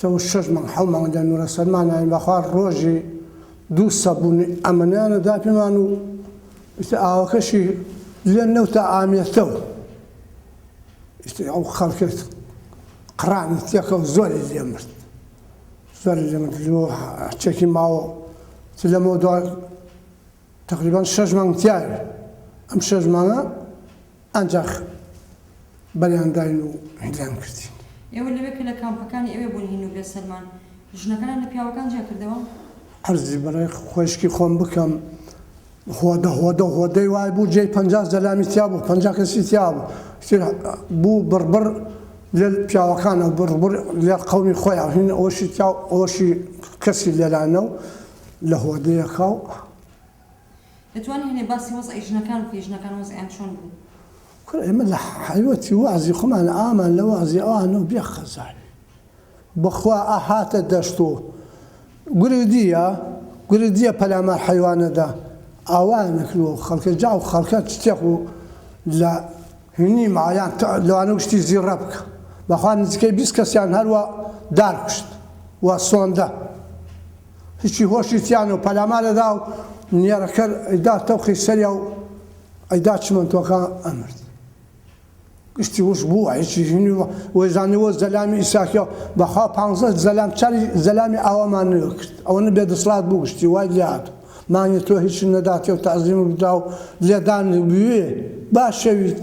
تەو شەش مانگ حەو مانگ دەنوورە سەرمانایان بەخوا ڕۆژی دوو سەبوون ئەمەنیانە دا پێمان و ئاوەکەشی لێ نەوتە ئامێتەو ئەو خەڵکت قڕانی تێکە و زۆری لێ مرد زۆری لێ مرد چێکی ماوە لەمە دوای تقریبان شەش مانگ تیاوێت ئەم شەژمانە ئانجاخ بەریان داین و هیندریان کردین. ئێوە لەوێ کە لە کامپەکانی ئەوێ بوون هین و بێ سەرمان، ژنەکانیان لە پیاوەکان جیا کردەوە؟ عەرزی بەڕێ خوەیشکی خۆم بکەم، هۆدە هۆدە و هۆدەی وای بوو جێی پەنجا زەلامی تیا بوو، پەنجا کەسی تیا بوو. ئیتر بوو بڕ بڕ لە پیاوەکانە و بڕ بڕ لە قەومی خۆیان هین ئەوەشی تیا و ئەوەشی کەسی لێرانە و لە هۆدەیەکا و. دەتوانی هەنێ باسی وەزعی ژنەکان بکەی ژنەکان وەزعیان چۆن بوو؟ کوڕە ئێمە لە حەیوەتی وەعزی خۆمان ئامان لە وەعزی ئەوانەوە بێ خەزای بەخوا ئەهاتە دەشت و گرودیە گرودیە پەلامار حەیوانەدا ئاوایان نەکردووە و خەڵکە جا و خەڵکە چتێق و لە هینی مایان لەوانە و شتی زیڕە بکە بەخوا نزیکەی بیست کەسیان هەروە دار کوشت و سۆندە هیچی هۆشی تیانە و پەلامار ئەدا و نێرەکەر ئەیدا تەوقی سەریا و ئەیدا چمەنتۆکە ئەمرد. گشتی وش بووە هیچی ژنی و وەیزانەوە زەلامی ئیساکیا و بەخوا پانزە زەلام چاری زەلامی ئاوامان نوێ کرد ئەوەنە بێ دەسڵات بوو گشتی وای لێهات و مانگی تۆ هیچی نەداتێ و تەعزیم و بدا و لێدان بوێ باشەویت